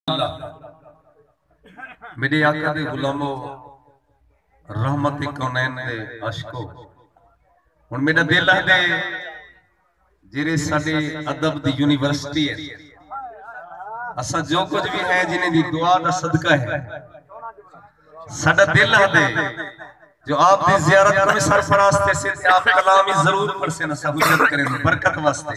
اللہ میڈے آقا دے غلامو رحمت کونین دے عشقو ہن میڈا دل ہے دے جیرے ساڈے ادب دی یونیورسٹی ہے اسا جو کچھ بھی ہے جنہیں دی دعا دا صدقہ ہے ساڈا دل ہے دے جو آپ دی زیارت کرنے سرفراز تے سے آپ کلامی ضرور پڑھ سے نسا حجت کریں برکت واسطے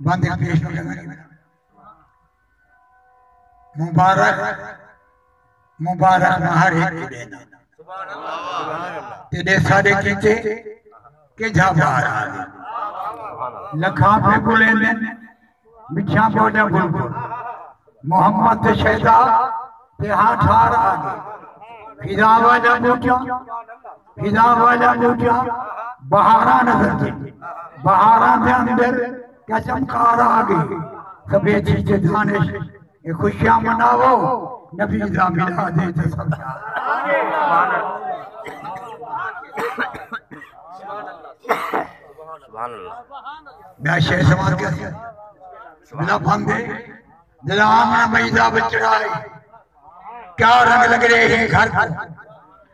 بند ایک پیش ہو گئے مبارک مبارک مہر ایک دینا تیرے سارے کیتے کہ جا بار آگے لکھاں پہ بلے نے مچھاں پہ جا بل بل محمد تے شہدہ تے ہاں ٹھار آگے فضاوہ جا بوٹیاں ہلا والا موجہ بہارا نظر جی بہارا دے اندر قسم کار آگے سبے جی جے دانش اے خوشیاں مناو نبی دا ملا دے جے سب میں شہر سوال کیا دیا بلا پھندے دلا آمن مجدہ بچڑا ہے کیا رنگ لگ رہے ہیں گھر پر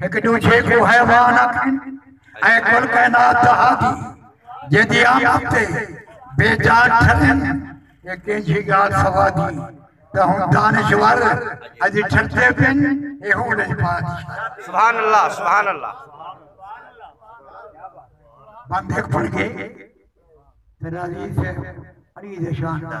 ہک دوجھے کو حیوان آکھن اے کل کائنات دا ہادی جیندی آمد تے بے جان ٹھلن اے کینجھی گال سوادی تے ہن دانشور اج ٹھردے پن اے ہون اج بادشاہ سبحان اللہ سبحان اللہ بندے پڑھ گئے تیرا عزیز ہے عزیز شان دا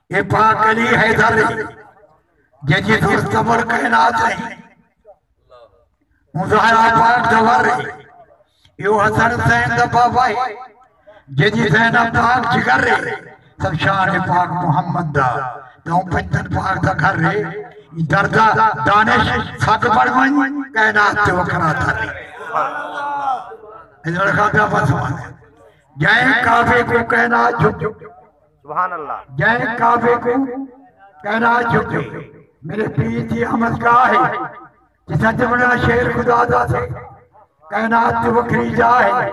اے پاک علی حیدر ہے جے جی دھر تمر کائنات ہے اون زہرا پاک دا ور ہے ایو حسن حسین دا بابا ہے جے جی زینب پاک جگر ہے سب شان پاک محمد دا تے اون پنجتن پاک دا گھر ہے ایں در دا دانش سگ بن ونج کائنات تے وکھرا تھر ہے اے لڑکا پیا بس جائیں کعبے کو کائنات جھک جئیں کعبے کوں کہرا جھکے۔ میݙے پیر دی احمد گاہ ہے۔ جتھاں جمنڑاں شیر خدا دا تھے۔ کائنات دی وکھری جاہ ہے۔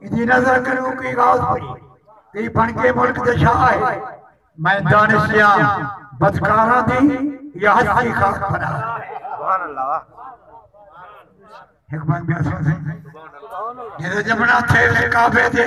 ایندی نظر کنوں کئی غوث پئی۔ کئی بݨ کے ملک دے شاہ ہے۔ میں دانش دیاں بدکاراں دی یا ہستی خاک پناہ ہے۔ ہک بند بیاں سن سائیں۔ جتھاں جمنڑاں تھے کعبے دے۔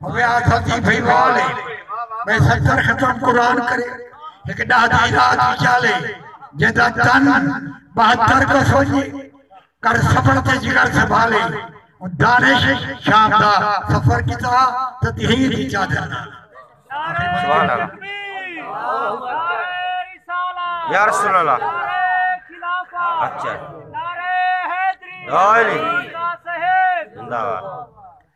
اوے آکھا تھی بھئی والے میں ستر ختم قرآن کرے ہک ڈاہ دی رات ہی چالے جیندہ تن بہتر کو سوجے کر سفر تے جگر سبھالے دانش شام دا سفر کیتا تو تہیر دی چادر نہ سبحان اللہ یا رسول اللہ اچھا نعرہ حیدری زندہ باد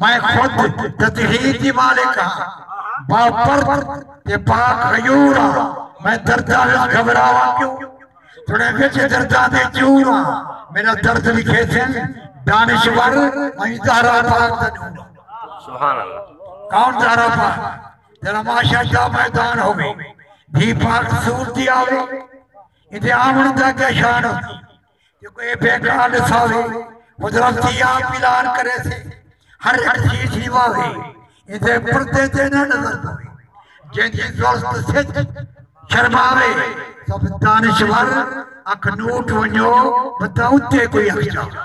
میں خود تطہیر دی مالک ہاں، با پرد تے پاک غیور ہاں، میں درداں وچ گھبراواں کیوں؟ جھڑے وچ درداں دے چور ہاں، میݙا درد لکھے سن دانشور، میں زہرا پاک دا نور ہاں۔ سبحان اللہ۔ کون زہرا پاک؟ جیڑھا معاشر دا میدان ہووے، دھی پاک سور دی آوے، ایندے آوݨ دا کیا شان ہوندی؟ جو کوئی بیٹا ݙساوے حضرت دی آپ اعلان کریسے ہر ہر شی شیواوے ایندے پردے تے نہ نظر پوے جیندی زلف سچ شرماوے سب دانشور اکھ نوٹ ونجو بندہ اتے کوئی اکھ جاوے